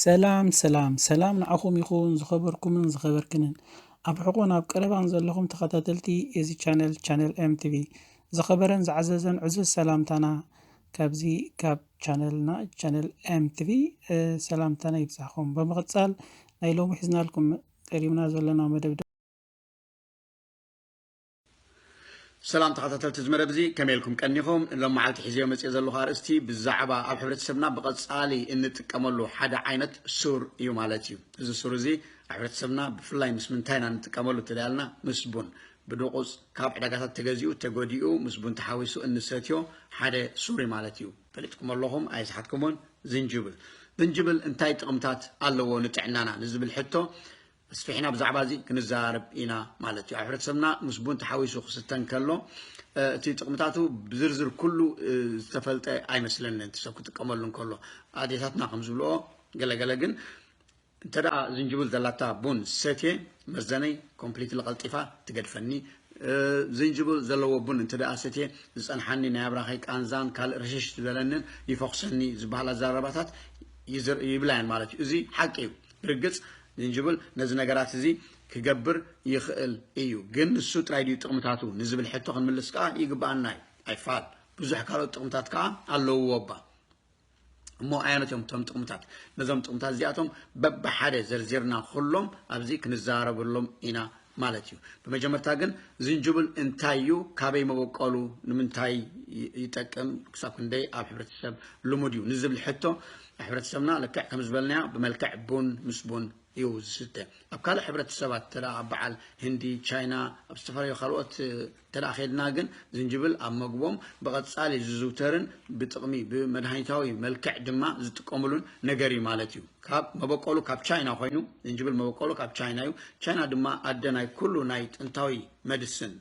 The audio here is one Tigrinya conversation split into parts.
ሰላም ሰላም ሰላም ንዓኹም ይኹን ዝኸበርኩምን ዝኸበርክንን ኣብ ሕቆን ኣብ ቀረባን ዘለኹም ተኸታተልቲ እዚ ቻነል ቻነል ኤምቲቪ ዝኸበረን ዝዓዘዘን ዕዙዝ ሰላምታና ካብዚ ካብ ቻነልና ቻነል ኤምቲቪ ሰላምታና ይብዛሕኹም ብምቕጻል ናይ ሎሚ ሒዝናልኩም ቀሪብና ዘለና መደብ ሰላም ተኸታተልቲ እዚ መደብ እዚ ከመይ ኢልኩም ቀኒኹም? ሎም መዓልቲ ሒዘዮ መፂኦ ዘለኹ ኣርእስቲ ብዛዕባ ኣብ ሕብረተሰብና ብቐፃሊ እንጥቀመሉ ሓደ ዓይነት ሱር እዩ ማለት እዩ። እዚ ሱር እዚ ኣብ ሕብረተሰብና ብፍላይ ምስ ምንታይ ኢና እንጥቀመሉ ተለያልና ምስ ቡን ብድቑፅ ካብ ዕዳጋታት ተገዚኡ ተጎዲኡ ምስ ቡን ተሓዊሱ እንሰትዮ ሓደ ሱር እዩ ማለት እዩ። ፈሊጥኩም ኣለኹም ኣይስሓትኩምን ዝንጅብል ዝንጅብል እንታይ ጥቕምታት ኣለዎ ንጥዕናና ንዝብል ሕቶ ኣስፊሕና ብዛዕባ እዚ ክንዘራረብ ኢና ማለት እዩ። ኣብ ሕብረተሰብና ምስ ቡን ተሓዊሱ ክስተ እንከሎ እቲ ጥቕምታቱ ብዝርዝር ኩሉ ዝተፈልጠ ኣይመስለንን እቲ ሰብ ክጥቀመሉ እንከሎ ኣዴታትና ከም ዝብልኦ ገለገለ ግን እንተ ደኣ ዝንጅብል ዘላታ ቡን ሰትየ መዘነይ ኮምፕሊትሊ ቀልጢፋ ትገድፈኒ ዝንጅብል ዘለዎ ቡን እንተ ደኣ ሰትየ ዝጸንሓኒ ናይ ኣብራኸይ ቃንዛን ካልእ ርሽሽ ዝበለንን ይፈኹሰኒ ዝበሃል ኣዘራርባታት ይብላየን ማለት እዩ እዚ ሓቂ እዩ ብርግጽ ዝንጅብል ነዚ ነገራት እዚ ክገብር ይኽእል እዩ፣ ግን ንሱ ጥራይ ድዩ ጥቕምታቱ ንዝብል ሕቶ ክንምልስ ከኣ ይግብኣና እዩ። ኣይፋል፣ ብዙሕ ካልኦት ጥቕምታት ከኣ ኣለዉዎ እባ እሞ ኣየኖት እዮም እቶም ጥቕምታት? ነዞም ጥቕምታት እዚኣቶም በብሓደ ዘርዚርና ኩሎም ኣብዚ ክንዛረበሎም ኢና ማለት እዩ ብመጀመርታ ግን ዝንጅብል እንታይ እዩ ካበይ መበቆሉ ንምንታይ ይጠቅም ክሳብ ክንደይ ኣብ ሕብረተሰብ ልሙድ እዩ ንዝብል ሕቶ ሕብረተሰብና ልክዕ ከም ዝበልናዮ ብመልክዕ ቡን ምስ ቡን እዩ ዝስተ ኣብ ካልእ ሕብረተሰባት ተዳ ኣብ በዓል ህንዲ ቻይና ኣብ ዝተፈላለዩ ካልኦት እንተ ኬድና ግን ዝንጅብል ኣብ መግቦም ብቐጻሊ ዝዝውተርን ብጥቕሚ ብመድሃኒታዊ መልክዕ ድማ ዝጥቀምሉን ነገር እዩ ማለት እዩ። ካብ መበቆሉ ካብ ቻይና ኮይኑ ዝንጅብል መበቆሉ ካብ ቻይና እዩ። ቻይና ድማ ኣደ ናይ ኩሉ ናይ ጥንታዊ መድስን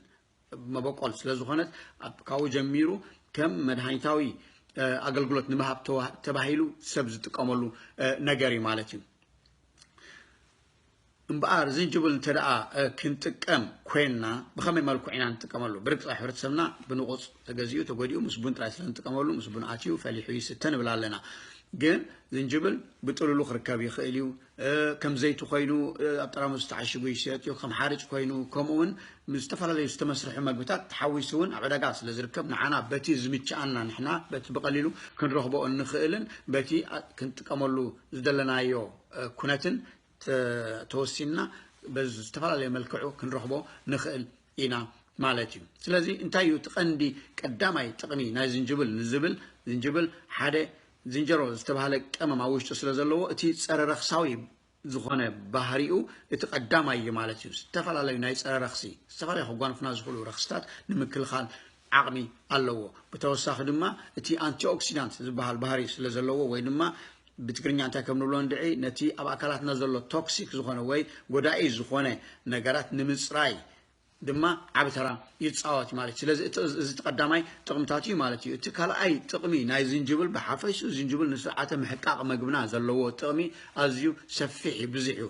መበቆል ስለ ዝኾነት ካብኡ ጀሚሩ ከም መድሃኒታዊ ኣገልግሎት ንምሃብ ተባሂሉ ሰብ ዝጥቀመሉ ነገር እዩ ማለት እዩ። እምበኣር ዝንጅብል እንተ ደኣ ክንጥቀም ኮይንና ብኸመይ መልክዑ ኢና ንጥቀመሉ? ብርግጽ ኣብ ሕብረተሰብና ብንቑጽ ተገዚኡ ተጎዲኡ ምስ ቡን ጥራይ ስለ ንጥቀመሉ ምስ ቡን ኣትዩ ፈሊሑ ይስተ ንብል ኣለና። ግን ዝንጅብል ብጥሉሉ ክርከብ ይኽእል እዩ፣ ከም ዘይቲ ኮይኑ ኣብ ጠራሙዝ ተዓሺጉ ይሽየጥ እዩ፣ ከም ሓርጭ ኮይኑ ከምኡውን ምስ ዝተፈላለዩ ዝተመስርሑ መግብታት ተሓዊሱ እውን ኣብ ዕዳጋ ስለ ዝርከብ ንዓና በቲ ዝምችኣና ንሕና በቲ ብቐሊሉ ክንረኽቦ እንኽእልን በቲ ክንጥቀመሉ ዝደለናዮ ኩነትን ተወሲንና ብዝተፈላለየ መልክዑ ክንረኽቦ ንኽእል ኢና ማለት እዩ ስለዚ እንታይ እዩ እቲ ቀንዲ ቀዳማይ ጥቕሚ ናይ ዝንጅብል ንዝብል ዝንጅብል ሓደ ዝንጀሮ ዝተባህለ ቀመም ኣብ ውሽጡ ስለ ዘለዎ እቲ ጸረ ረኽሳዊ ዝኾነ ባህሪኡ እቲ ቀዳማይ እዩ ማለት እዩ ዝተፈላለዩ ናይ ጸረ ረኽሲ ዝተፈላለዩ ከጓንፉና ዝኽእሉ ረኽስታት ንምክልኻል ዓቕሚ ኣለዎ። ብተወሳኺ ድማ እቲ ኣንቲኦክሲዳንት ዝበሃል ባህሪ ስለ ዘለዎ ወይ ድማ ብትግርኛ እንታይ ከም ንብሎ እንድዒ ነቲ ኣብ ኣካላትና ዘሎ ቶክሲክ ዝኾነ ወይ ጎዳኢ ዝኾነ ነገራት ንምጽራይ ድማ ዓቢ ተራ ይጻወት እዩ ማለት እዩ። ስለዚ እቲ እዚ እቲ ቀዳማይ ጥቕምታት እዩ ማለት እዩ። እቲ ካልኣይ ጥቕሚ ናይ ዝንጅብል ብሓፈሽኡ ዝንጅብል ንስርዓተ ምሕቃቕ መግብና ዘለዎ ጥቕሚ ኣዝዩ ሰፊሕ እዩ ብዙሕ እዩ።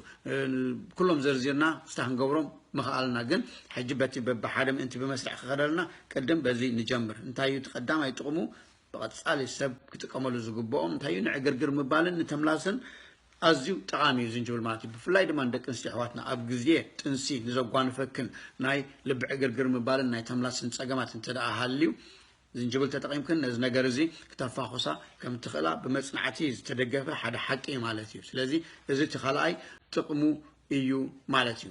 ኩሎም ዘርዚርና ክስታ ክንገብሮም ምኽኣልና ግን ሕጂ በቲ በብሓደ ምእንቲ ብመስርዕ ክኸደልና ቅድም በዚ ንጀምር እንታይ እዩ እቲ ቀዳማይ ጥቕሙ ብቐጻሊ ሰብ ክጥቀመሉ ዝግብኦ እንታይ እዩ ንዕግርግር ምባልን ንተምላስን ኣዝዩ ጠቓሚ እዩ ዝንጅብል ማለት እዩ ብፍላይ ድማ ንደቂ ኣንስትዮ ኣሕዋትና ኣብ ግዜ ጥንሲ ንዘጓንፈክን ናይ ልቢ ዕግርግር ምባልን ናይ ተምላስን ጸገማት እንተ ሃልዩ ዝንጅብል ተጠቒምክን ነዚ ነገር እዚ ክተፋኹሳ ከም እትኽእላ ብመጽናዕቲ ዝተደገፈ ሓደ ሓቂ እዩ ማለት እዩ ስለዚ እዚ እቲ ካልኣይ ጥቕሙ እዩ ማለት እዩ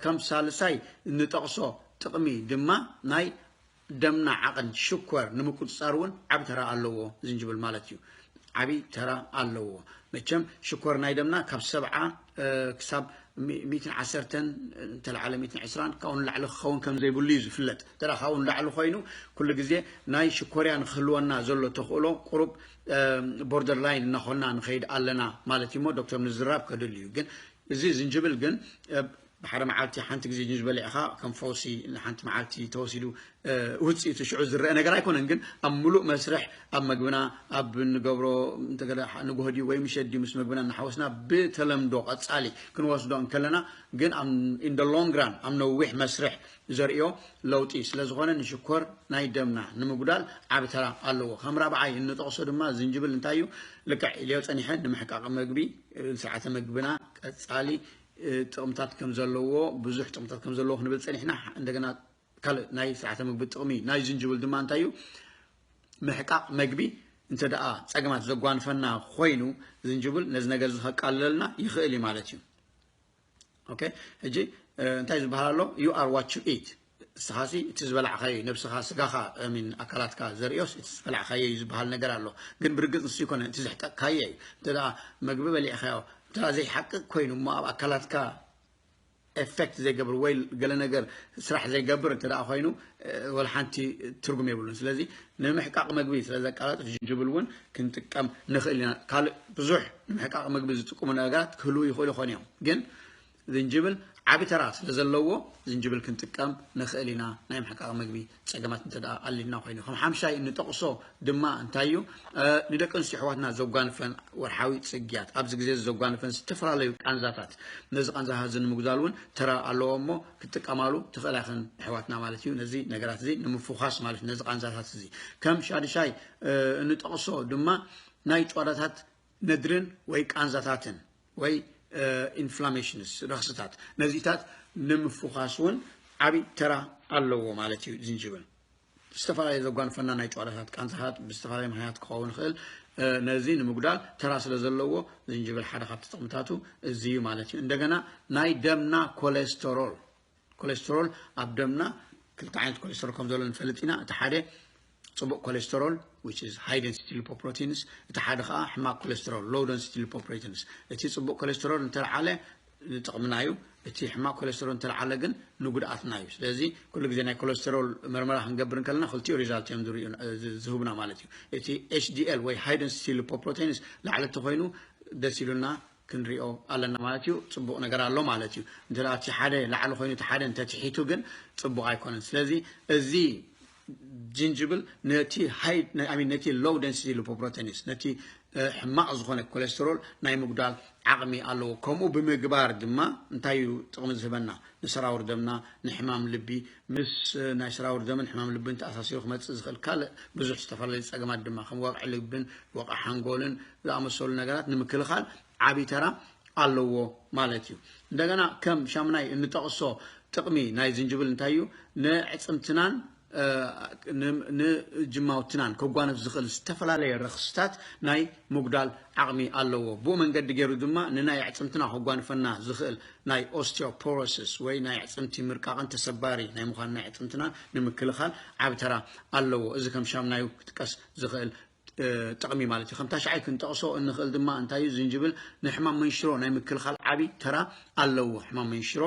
ከም ሳልሳይ እንጠቕሶ ጥቕሚ ድማ ናይ ደምና ዓቕን ሽኮር ንምቁፅፃር እውን ዓብ ተራ ኣለዎ ዝንጅብል ማለት እዩ ዓብይ ተራ ኣለዎ መቸም ሽኮር ናይ ደምና ካብ ሰብዓ ክሳብ ሚእትን ዓሰርተን እንተለዓለ ሚእትን ዕስራን ካብኡ ንላዕሊ ክኸውን ከም ዘይብሉ እዩ ዝፍለጥ እንተ ካብኡ ንላዕሊ ኮይኑ ኩሉ ግዜ ናይ ሽኮርያ ንክህልወና ዘሎ ተኽእሎ ቁሩብ ቦርደር ላይን እናኾና ንኸይድ ኣለና ማለት እዩ እሞ ዶክተር ምዝራብ ከድል እዩ ግን እዚ ዝንጅብል ግን ብሓደ መዓልቲ ሓንቲ ግዜ ጅንጅበል ኢኻ ከም ፈውሲ ንሓንቲ መዓልቲ ተወሲዱ ውፅኢቱ ሽዑ ዝረአ ነገር ኣይኮነን፣ ግን ኣብ ምሉእ መስርሕ ኣብ መግብና ኣብ እንገብሮ እንተገለ ንጉሆ ድዩ ወይ ምሸት ድዩ ምስ መግብና እናሓወስና ብተለምዶ ቀፃሊ ክንወስዶ እንከለና ግን ኣብ ኢን ደ ሎንግ ራን ኣብ ነዊሕ መስርሕ ዘርእዮ ለውጢ ስለ ዝኾነ ንሽኮር ናይ ደምና ንምጉዳል ዓቢ ተራ ኣለዎ። ከም ራብዓይ እንጠቕሶ ድማ ዝንጅብል እንታይ እዩ ልክዕ ኢለዮ ፀኒሐ ንምሕቃቕ መግቢ ስርዓተ መግብና ቀፃሊ ጥቕምታት ከም ዘለዎ ብዙሕ ጥቕምታት ከም ዘለዎ ክንብል ፀኒሕና እንደገና ካልእ ናይ ስርዓተ ምግቢ ጥቕሚ ናይ ዝንጅብል ድማ እንታይ እዩ ምሕቃቕ መግቢ እንተ ደኣ ጸገማት ዘጓንፈና ኮይኑ ዝንጅብል ነዚ ነገር እዚ ከቃልለልና ይኽእል እዩ ማለት እዩ ኦኬ ሕጂ እንታይ ዝበሃል ኣሎ ዩ ኣር ዋት ዩ ኢት ንስኻሲ እቲ ዝበላዕካዮ ነብስኻ ስጋኻ ሚን ኣካላትካ ዘርእዮስ እቲ ዝበላዕካዮ እዩ ዝበሃል ነገር ኣሎ ግን ብርግፅ ንሱ ይኮነ እቲ ዘሕጠቅካዮ እዩ እንተ መግቢ በሊዕካዮ እንተ ዘይሓቅቅ ኮይኑ እሞ ኣብ ኣካላትካ ኤፈክት ዘይገብር ወይ ገለ ነገር ስራሕ ዘይገብር እንተ ኮይኑ ወላ ሓንቲ ትርጉም የብሉን ስለዚ ንምሕቃቕ መግቢ ስለ ዘቃላጥፍ ጅንጅብል እውን ክንጥቀም ንኽእል ኢና ካልእ ብዙሕ ንምሕቃቕ መግቢ ዝጥቅሙ ነገራት ክህልው ይኽእሉ ይኾኑ እዮም ግን ዝንጅብል ዓቢ ተራ ስለ ዘለዎ ዝንጅብል ክንጥቀም ንኽእል ኢና ናይ ምሕቃቕ መግቢ ፀገማት እንተ ኣልና ኮይኑ ከም ሓምሻይ እንጠቕሶ ድማ እንታይ እዩ ንደቂ ኣንስትዮ ኣሕዋትና ዘጓንፈን ወርሓዊ ፅግያት ኣብዚ ግዜ ዘጓንፈን ዝተፈላለዩ ቃንዛታት ነዚ ቃንዛታት እዚ ንምጉዛል እውን ተራ ኣለዎ እሞ ክጥቀማሉ ትኽእላ ይኽን ኣሕዋትና ማለት እዩ ነዚ ነገራት እዚ ንምፍዃስ ማለት እዩ ነዚ ቃንዛታት እዚ ከም ሻድሻይ እንጠቕሶ ድማ ናይ ጨዋዳታት ነድርን ወይ ቃንዛታትን ወይ ኢንፍላሜሽንስ፣ ረኽስታት፣ ነዚታት ንምፍዃስ ውን ዓቢ ተራ ኣለዎ ማለት እዩ ዝንጅብል። ዝተፈላለየ ዘጓንፈና ናይ ጭዋዳታት ቃንዛታት ብዝተፈላለየ ምኽንያት ክኸውን ይኽእል። ነዚ ንምጉዳል ተራ ስለ ዘለዎ ዝንጅብል ሓደ ካብቲ ጥቕምታቱ እዚ እዩ ማለት እዩ። እንደገና ናይ ደምና ኮሌስተሮል ኮሌስትሮል ኣብ ደምና ክልተ ዓይነት ኮሌስትሮል ከም ዘሎ ንፈልጥ ኢና እቲ ሓደ ፅቡቅ ኮሌስትሮል which is high density lipoproteins እቲ ሓደ ከዓ ሕማቅ ኮሌስትሮል low density lipoproteins እቲ ፅቡቅ ኮሌስትሮል እንተልዓለ ንጥቕምና እዩ እቲ ሕማቅ ኮሌስትሮል እንተልዓለ ግን ንጉድኣትና እዩ ስለዚ ኩሉ ግዜ ናይ ኮሌስትሮል መርመራ ክንገብር እንከለና ክልቲኡ ሪዛልት እዮም ዝህቡና ማለት እዩ እቲ ኤችዲኤል ወይ ሃይ ደንሲቲ ሊፖፕሮቴንስ ላዕለቲ ኮይኑ ደስ ኢሉና ክንሪኦ ኣለና ማለት እዩ ጽቡቅ ነገር ኣሎ ማለት እዩ እንተ እቲ ሓደ ላዕሊ ኮይኑ እቲ ሓደ እንተ ትሒቱ ግን ጽቡቅ ኣይኮነን ስለዚ እዚ ጅንጅብል ነቲ ሃይ ኣሚን ነቲ ሎው ደንሲቲ ሊፖፕሮቴንስ ነቲ ሕማቅ ዝኾነ ኮሌስትሮል ናይ ምጉዳል ዓቅሚ ኣለዎ ከምኡ ብምግባር ድማ እንታይ እዩ ጥቅሚ ዝህበና ንሰራውር ደምና ንሕማም ልቢ ምስ ናይ ስራውር ደምን ሕማም ልብን ተኣሳሲሩ ክመጽእ ዝኽእል ካልእ ብዙሕ ዝተፈላለዩ ጸገማት ድማ ከም ወቕዒ ልብን ወቕዒ ሓንጎልን ዝኣመሰሉ ነገራት ንምክልኻል ዓቢ ተራ ኣለዎ ማለት እዩ። እንደገና ከም ሻምናይ እንጠቕሶ ጥቕሚ ናይ ዝንጅብል እንታይ እዩ? ንኣዕጽምትናን ንጅማውትናን ከጓንፍ ዝኽእል ዝተፈላለየ ረኽስታት ናይ ምጉዳል ዓቕሚ ኣለዎ። ብኡ መንገዲ ገይሩ ድማ ንናይ ኣዕጽምትና ከጓንፈና ዝኽእል ናይ ኦስቲዮፖሮሲስ ወይ ናይ ኣዕጽምቲ ምርቃቕን ተሰባሪ ናይ ምዃን ናይ ኣዕጽምትና ንምክልኻል ዓቢ ተራ ኣለዎ። እዚ ከም ሻምናዩ ክጥቀስ ዝኽእል ጥቕሚ ማለት እዩ። ከም ታሽዓይ ክንጠቕሶ እንኽእል ድማ እንታይ እዩ ዝንጅብል ንሕማም መንሽሮ ናይ ምክልኻል ዓቢ ተራ ኣለዎ። ሕማም መንሽሮ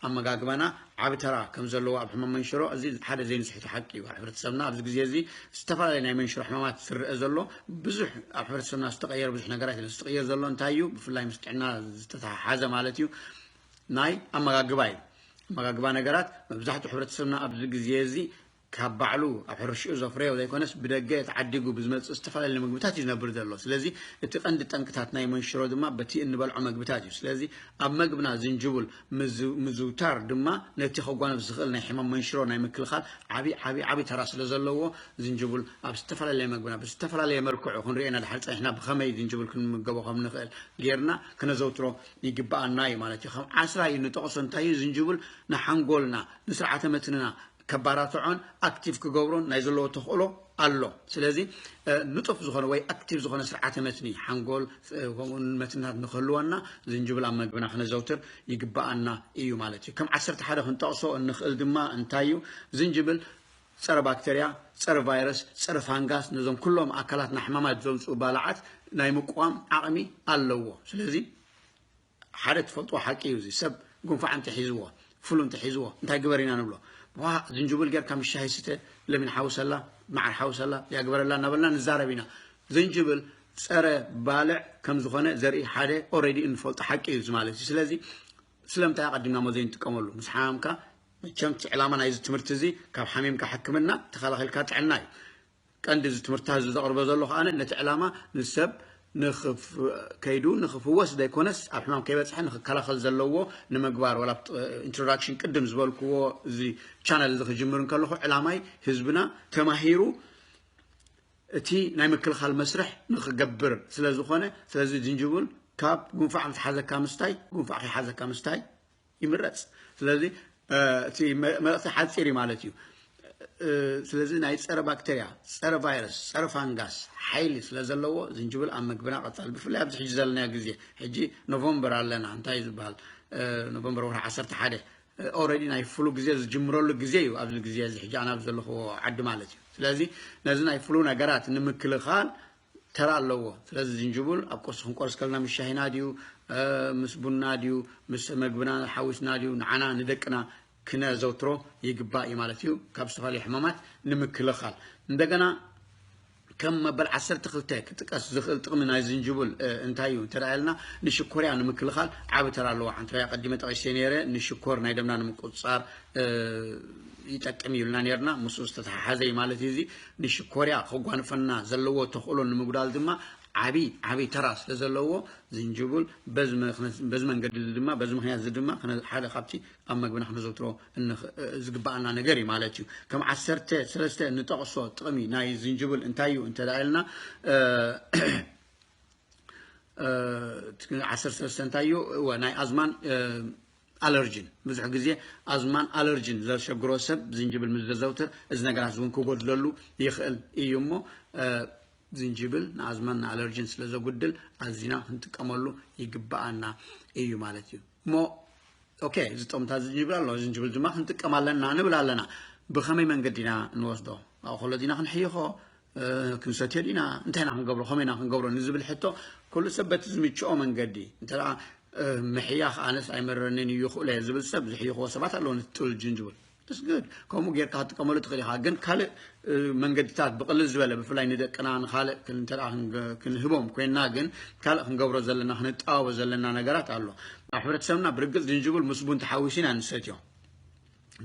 ኣመጋግባና ዓቢ ተራ ከም ዘለዎ ኣብ ሕማም መንሽሮ እዚ ሓደ ዘይንስሕቶ ሓቂ እዩ። ኣብ ሕብረተሰብና ኣብዚ ግዜ እዚ ዝተፈላለየ ናይ መንሽሮ ሕማማት ዝርኣ ዘሎ ብዙሕ ኣብ ሕብረተሰብና ዝተቐየረ ብዙሕ ነገራት የለን። እዚ ዝቕየር ዘሎ እንታይ እዩ? ብፍላይ ምስ ጥዕና ዝተተሓሓዘ ማለት እዩ ናይ ኣመጋግባ እዩ። ኣመጋግባ ነገራት መብዛሕትኡ ሕብረተሰብና ኣብዚ ግዜ እዚ ካብ ባዕሉ ኣብ ሕርሽኡ ዘፍረዮ ዘይኮነስ ብደገ ተዓዲጉ ብዝመጽእ ዝተፈላለየ ምግብታት እዩ ዝነብር ዘሎ። ስለዚ እቲ ቀንዲ ጠንቅታት ናይ መንሽሮ ድማ በቲ እንበልዖ መግብታት እዩ። ስለዚ ኣብ መግብና ዝንጅቡል ምዝውታር ድማ ነቲ ከጓንፍ ዝኽእል ናይ ሕማም መንሽሮ ናይ ምክልኻል ዓቢ ዓቢ ዓቢ ተራ ስለዘለዎ ዝንጅቡል ኣብ ዝተፈላለየ መግብና ብዝተፈላለየ መልክዑ ክንሪኦ ኢና ድሓር ጸኒሕና ብኸመይ ዝንጅቡል ክንምገቦ ከም ንኽእል ጌርና ክነዘውትሮ ይግብኣና እዩ ማለት እዩ። ከም ዓስራ እዩ ንጠቕሶ እንታይ እዩ ዝንጅቡል ንሓንጎልና ንስርዓተ መትንና ከባራትዖን ኣክቲቭ ክገብሮን ናይ ዘለዎ ተኽእሎ ኣሎ ስለዚ ንጡፍ ዝኾነ ወይ ኣክቲቭ ዝኾነ ስርዓተ መትኒ ሓንጎል ከምኡ መትንታት ንክህልወና ዝንጅብል ኣብ መግብና ክነዘውትር ይግባኣና እዩ ማለት እዩ ከም ዓሰርተ ሓደ ክንጠቕሶ እንኽእል ድማ እንታይ እዩ ዝንጅብል ፀረ ባክተርያ ፀረ ቫይረስ ፀረ ፋንጋስ ነዞም ኩሎም ኣካላትና ሕማማት ዘምፅኡ ባላዓት ናይ ምቁዋም ዓቕሚ ኣለዎ ስለዚ ሓደ ትፈልጥዎ ሓቂ እዩ እዚ ሰብ ጉንፋዕ እንተሒዝዎ ፍሉ እንተሒዝዎ እንታይ ግበር ኢና ንብሎ ዋ ዝንጅብል ጌርካ ምስ ሻሂ ስተ ለሚን ሓውሰላ መዓር ሓውሰላ ያግበረላ እናበልና ንዛረብ ኢና ዝንጅብል ፀረ ባልዕ ከም ዝኾነ ዘርኢ ሓደ ኦሬዲ እንፈልጦ ሓቂ እዩ እዚ ማለት እዩ ስለዚ ስለምንታይ ኣቐዲምና ሞ ዘይንጥቀመሉ ምስ ሓማምካ መቸም እቲ ዕላማ ናይዚ ትምህርቲ እዚ ካብ ሓሚምካ ሕክምና ተኸላኺልካ ጥዕና እዩ ቀንዲ እዚ ትምህርትታ እዚ ዘቕርቦ ዘሎ ከኣ ነቲ ዕላማ ንሰብ ከይዱ ንክፍወስ ዘይኮነስ ኣብ ሕማም ከይበጽሐ ንክከላኸል ዘለዎ ንምግባር ወላ ኣብቲ ኢንትሮዳክሽን ቅድም ዝበልክዎ እዚ ቻነል እዚ ክጅምር እንከለኹ ዕላማይ ህዝብና ተማሂሩ እቲ ናይ ምክልኻል መስርሕ ንክገብር ስለ ዝኾነ ስለዚ ዝንጅብል ካብ ጉንፋዕ ዝሓዘካ ምስታይ ጉንፋዕ ከይሓዘካ ምስታይ ይምረፅ ስለዚ እቲ መልእክቲ ሓፂር እዩ ማለት እዩ ስለዚ ናይ ፀረ ባክተርያ ፀረ ቫይረስ ፀረ ፋንጋስ ሓይሊ ስለ ዘለዎ ዝንጅብል ኣብ ምግብና ቀፃሊ ብፍላይ ኣብዚ ሕጂ ዘለና ግዜ ሕጂ ኖቨምበር ኣለና እንታይ እዩ ዝበሃል ኖቨምበር ወርሒ ዓሰርተ ሓደ ኦረዲ ናይ ፍሉ ግዜ ዝጅምረሉ ግዜ እዩ ኣብዚ ግዜ እዚ ሕጂ ኣናብ ዘለኹዎ ዓዲ ማለት እዩ ስለዚ ነዚ ናይ ፍሉ ነገራት ንምክልኻል ተራ ኣለዎ ስለዚ ዝንጅቡል ኣብ ቁርሲ ክንቆርስ ከለና ምስ ሻሂና ድዩ ምስ ቡና ድዩ ምስ መግብና ሓዊስና ድዩ ንዓና ንደቅና ክነዘውትሮ ይግባእ እዩ ማለት እዩ ካብ ዝተፈላለዩ ሕማማት ንምክልኻል እንደገና ከም መበል ዓሰርተ ክልተ ክጥቀስ ዝኽእል ጥቕሚ ናይ ዝንጅቡል እንታይ እዩ እንተደኣልና ንሽኮርያ ንምክልኻል ዓብ ተራ ኣለዎ ሓንትራይ ኣቐዲመ ጠቒሰ ነይረ ንሽኮር ናይ ደምና ንምቁፅፃር ይጠቅም ኢልና ነርና ምስ ዝተተሓሓዘ ማለት እዩ እዚ ንሽኮርያ ከጓንፈና ዘለዎ ተኽእሎ ንምጉዳል ድማ ዓቢ ዓቢ ተራ ስለ ዘለዎ ዝንጅብል በዚ መንገዲ እዚ ድማ በዚ ምክንያት እዚ ድማ ሓደ ካብቲ ኣብ መግብና ክነዘውትሮ ዝግባኣና ነገር እዩ ማለት እዩ ከም ዓሰርተ ሰለስተ ንጠቕሶ ጥቕሚ ናይ ዝንጅብል እንታይ እዩ እንተ ኢልና ዓሰርተ ሰለስተ እንታይ እዩ ናይ ኣዝማን ኣለርጅን፣ ብዙሕ ግዜ ኣዝማን ኣለርጅን ዘሸግሮ ሰብ ዝንጅብል ምስ ዘዘውትር እዚ ነገራት እውን ክጎድለሉ ይኽእል እዩ እሞ ዝንጅብል ንኣዝማን ንኣለርጅን ስለ ዘጉድል ኣዚና ክንጥቀመሉ ይግብኣና እዩ ማለት እዩ እሞ ኦኬ ዝጠምታ ዝንጅብል ኣሎ ዝንጅብል ድማ ክንጥቀም ኣለና ንብል ኣለና ብኸመይ መንገዲ ኢና ንወስዶ ኣኸሎ ዲና ክንሕይኾ ክንሰትዮ ዲና እንታይ ኢና ክንገብሮ ከመይ ኢና ክንገብሮ ንዝብል ሕቶ ኩሉ ሰብ በቲ ዝምችኦ መንገዲ እንተ ምሕያኽ ኣነስ ኣይመረንን እዩ ይኽእሎ እየ ዝብል ሰብ ዝሕይኽዎ ሰባት ኣለዎ ነቲ ጥሉል ጅንጅብል ስግድ ከምኡ ጌርካ ክትጥቀመሉ ትኽእል ኢኻ ግን ካልእ መንገድታት ብቕልል ዝበለ ብፍላይ ንደቅና ንካልእ እንተ ክንህቦም ኮይንና ግን ካልእ ክንገብሮ ዘለና ክንጠባበ ዘለና ነገራት ኣሎ ኣብ ሕብረተሰብና ብርግፅ ዝንጅብል ምስ ቡን ተሓዊሱ ኢና ንሰትዮ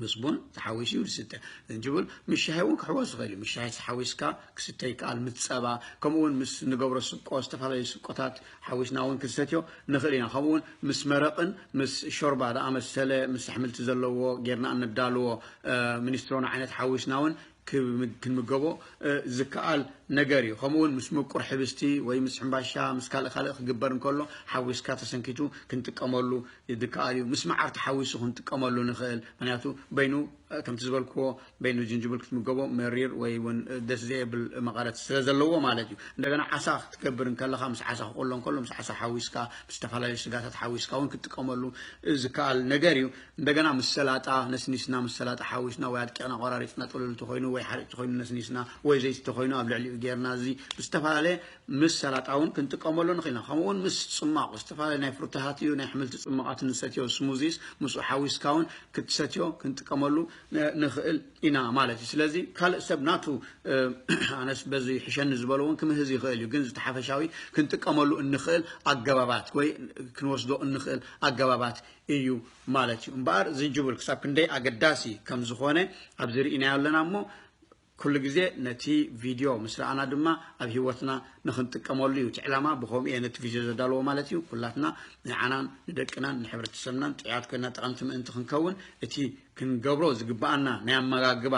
ምስ ቡን ተሓዊሱ እዩ ዝስተ ዝንጅብል ምስ ሻሂ እውን ክሕወስ ዝኽእል እዩ ምስ ሻሂ ተሓዊስካ ክስተ ይከኣል ምስ ፀባ ከምኡ እውን ምስ ንገብሮ ስቆ ዝተፈላለዩ ስቆታት ሓዊስና እውን ክንሰትዮ ንኽእል ኢና ከምኡ እውን ምስ መረቕን ምስ ሾርባ ዝኣመሰለ ምስ ኣሕምልቲ ዘለዎ ጌርና እነዳልዎ ሚኒስትሮን ዓይነት ሓዊስና እውን ክንምገቦ ዝከኣል ነገር እዩ። ከምኡውን ምስ ምቁር ሕብስቲ ወይ ምስ ሕምባሻ ምስ ካልእ ካልእ ክግበር እንከሎ ሓዊስካ ተሰንኪቱ ክንጥቀመሉ ዝከኣል እዩ። ምስ መዓር ተሓዊሱ ክንጥቀመሉ ንኽእል ምክንያቱ በይኑ ከምቲ ዝበልክዎ በይኑ ጅንጅብል ክትምገቦ መሪር ወይ እውን ደስ ዘየብል መቐረት ስለ ዘለዎ ማለት እዩ። እንደገና ዓሳ ክትገብር እንከለኻ ምስ ዓሳ ክቆሎ እንከሎ ምስ ዓሳ ሓዊስካ ምስ ዝተፈላለዩ ስጋታት ሓዊስካ እውን ክትጥቀመሉ ዝከኣል ነገር እዩ። እንደገና ምስ ሰላጣ ነስኒስና ምስ ሰላጣ ሓዊስና ወይ ኣድቂቕና ቆራሪጽና ጥሉል እንተኾይኑ ወይ ሓርጭ ተኾይኑ ነስኒስና ወይ ዘይቲ ተኾይኑ ኣብ ልዕሊኡ ጌርና እዚ ብዝተፈላለየ ምስ ሰላጣ እውን ክንጥቀመሉ ንኽእል ኢና ከምኡ እውን ምስ ጽማቕ ዝተፈላለዩ ናይ ፍሩታታት እዩ ናይ ኣሕምልቲ ጽማቓት ንሰትዮ ስሙዚስ ምስኡ ሓዊስካ እውን ክትሰትዮ ክንጥቀመሉ ንኽእል ኢና ማለት እዩ ስለዚ ካልእ ሰብ ናቱ ኣነስ በዚ ይሕሸኒ ዝበሎ እውን ክምህዝ ይኽእል እዩ ግን ዝተሓፈሻዊ ክንጥቀመሉ እንኽእል ኣገባባት ወይ ክንወስዶ እንኽእል ኣገባባት እዩ ማለት እዩ እምበኣር ዝንጅብል ክሳብ ክንደይ ኣገዳሲ ከም ዝኾነ ኣብዚ ርኢናዮ ኣለና እሞ ኩሉ ግዜ ነቲ ቪድዮ ምስ ረኣና ድማ ኣብ ሂወትና ንክንጥቀመሉ እዩ እቲ ዕላማ ብከምኡ እየ ነቲ ቪድዮ ዘዳለዎ ማለት እዩ ኩላትና ንዓናን ንደቅናን ንሕብረተሰብናን ጥዕያት ኮይና ጠቐምቲ ምእንቲ ክንከውን እቲ ክንገብሮ ዝግብኣና ናይ ኣመጋግባ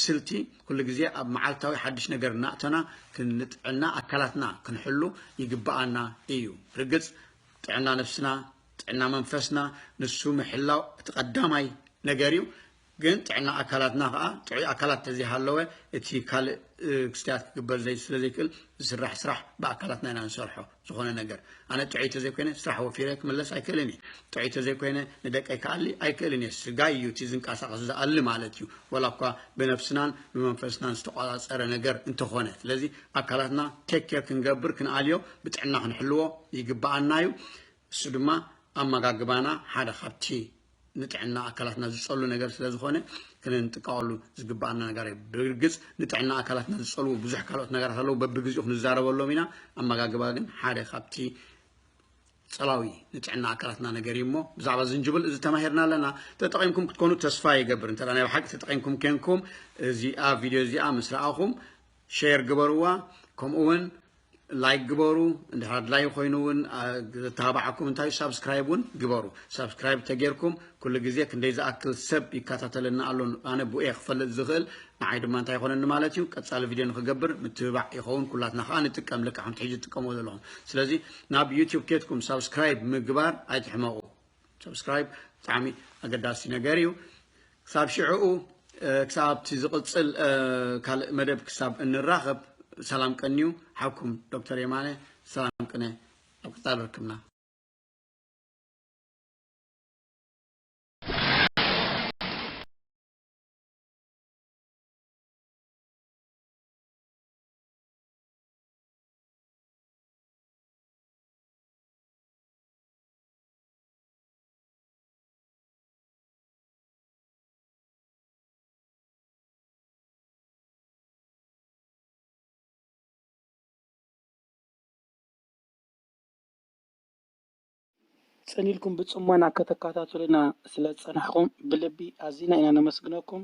ስልቲ ኩሉ ግዜ ኣብ መዓልታዊ ሓድሽ ነገር እናእተና ክንጥዕና ኣካላትና ክንሕሉ ይግብኣና እዩ ርግፅ ጥዕና ነፍስና ጥዕና መንፈስና ንሱ ምሕላው እቲ ቀዳማይ ነገር እዩ። ግን ጥዕና ኣካላትና ከኣ ጥዑይ ኣካላት ተዘይሃለወ እቲ ካልእ ክስተያት ክግበር ዘይ ስለ ዘይክእል ዝስራሕ ስራሕ ብኣካላትና ኢና ንሰርሖ ዝኾነ ነገር ኣነ ጥዑይ ተዘይኮይነ ስራሕ ወፊረ ክምለስ ኣይክእልን እየ ጥዑይ ተዘይኮይነ ንደቀይ ክኣሊ ኣይክእልን እየ ስጋይ እዩ እቲ ዝንቀሳቐስ ዝኣሊ ማለት እዩ ወላ እኳ ብነብስናን ብመንፈስናን ዝተቋፃፀረ ነገር እንተኾነ ስለዚ ኣካላትና ቴክ ኬር ክንገብር ክንኣልዮ ብጥዕና ክንሕልዎ ይግባኣና እዩ እሱ ድማ ኣመጋግባና ሓደ ካብቲ ንጥዕና ኣካላትና ዝጸሉ ነገር ስለ ዝኾነ ክንጥቃወሉ ዝግባኣና ነገር እዩ። ብርግጽ ንጥዕና ኣካላትና ዝጸልዉ ብዙሕ ካልኦት ነገራት ኣለዉ፣ በብግዜኡ ክንዛረበሎም ኢና። ኣመጋግባ ግን ሓደ ካብቲ ጸላዊ ንጥዕና ኣካላትና ነገር እዩ እሞ ብዛዕባ ዝንጅብል እዚ ተማሂርና ኣለና። ተጠቒምኩም ክትኮኑ ተስፋ ይገብር። እንተ ናይ ብሓቂ ተጠቒምኩም ኬንኩም እዚኣ ቪድዮ እዚኣ ምስ ረኣኹም ሸር ግበርዋ ከምኡ እውን ላይክ ግበሩ እንድሕር ኣድላዩ ኮይኑ እውን ዘተባባዓኩም እንታይ ሳብስክራይብ እውን ግበሩ ሳብስክራይብ ተጌርኩም ኩሉ ግዜ ክንደይ ዝኣክል ሰብ ይከታተለና ኣሎ ኣነ ብኡ እየ ክፈልጥ ዝኽእል ንዓይ ድማ እንታይ ይኾነኒ ማለት እዩ ቀፃሊ ቪድዮ ንክገብር ምትብባዕ ይኸውን ኩላትና ከዓ ንጥቀም ልክዕ ከምቲ ሕጂ ትጥቀሙ ዘለኹም ስለዚ ናብ ዩቲዩብ ኬትኩም ሳብስክራይብ ምግባር ኣይትሕመቑ Subscribe ብጣዕሚ ኣገዳሲ ነገር እዩ ክሳብ ሽዕኡ ክሳብ ኣብቲ ዝቕፅል ካልእ መደብ ክሳብ እንራኸብ ሰላም ቀንዩ ሓብኩም ዶክተር የማነ ሰላም ቅነ ኣብ ቀፃሊ ርክብና ጽን ኢልኩም ብጽሞና ከተከታትሉና ስለ ዝጸናሕኩም ብልቢ ኣዚና ኢና ነመስግነኩም።